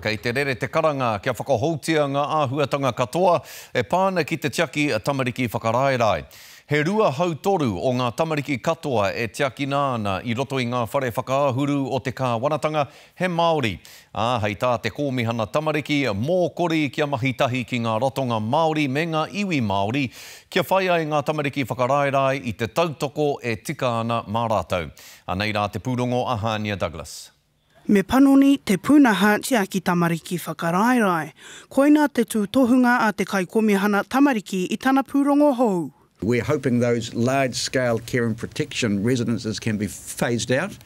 Kei te rere te karanga kia whakahoutia ngā āhuatanga katoa e pā ana ki te tiaki tamariki whakaraerae. He rua hautoru o ngā tamariki katoa e tiakina ana i roto i ngā whare whakaahuru o te kāwanatanga he Māori, ā, hei tā te Kōmihana Tamariki, mōkori kia mahi tahi ki ngā ratonga Māori me ngā iwi Māori kia whai ai ngā tamariki whakaraerae i te tautoko e tika ana mā rātou. Anei rā te pūrongo a Hania Douglas. Me panoni te pūnaha tiaki tamariki whakaraerae. Koina te tūtohunga a te Kaikomihana Tamariki i tana pūrongo hou. We're hoping those large scale care and protection residences can be phased out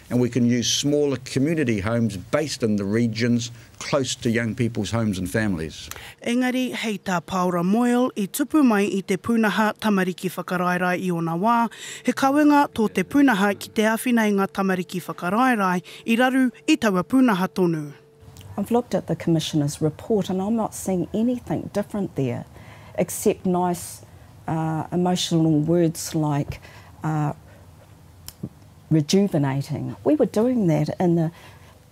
and we can use smaller community homes based in the regions close to young people's homes and families. Engari, hei tā Paora Moyle i tupu mai i te pūnaha tamariki whakaraerae i ōna wā, he kawenga tō te pūnaha ki te āwhina i ngā tamariki whakaraerae i raru i taua pūnaha tonu. I've looked at the Commissioner's report and I'm not seeing anything different there except nice emotional words like rejuvenating. We were doing that in the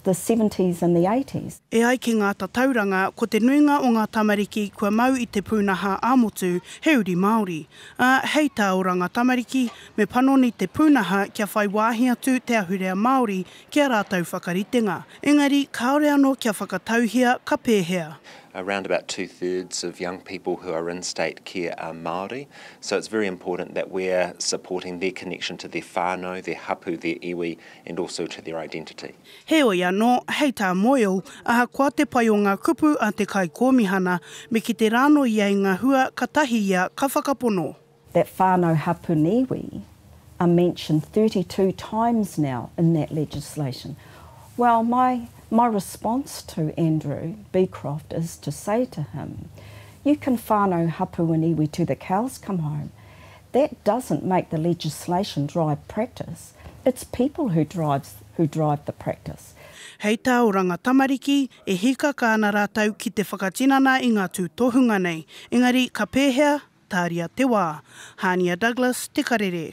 the seventies and the eighties. E ai ki ngā tatauranga, ko te nuinga o ngā tamariki kua mau i te pūnaha ā-motu he uri Māori, ā, hei tā oranga tamariki, me panoni te pūnaha kia whai wāhi atu te ahurea Māori ki ā rātou whakaritenga. Engari, kāore anō kia whakatauhia ka pēhea. around about two thirds of young people who are in state care are Māori, so it's very important that we're supporting their connection to their whānau, their hapu, their iwi, and also to their identity. Heoi anō, hei tā Moyle, ahakoa te pai o ngā kupu a te Kaikōmihana, me kite rānō ia i ngā hua katahi ia ka whakapono. That whānau hapu niwi are mentioned thirty two times now in that legislation. Well, my my response to Andrew Beecroft is to say to him, you can whānau hapu and iwi to the cows come home, That doesn't make the legislation drive practice, it's people who drives who drive the practice. Hei tā Oranga Tamariki, e hīkaka ana rātou ki te whakatinana i ngā tūtohunga nei, engari ka pēhea? Tāria te wā. Hānia Douglas, Te Karere.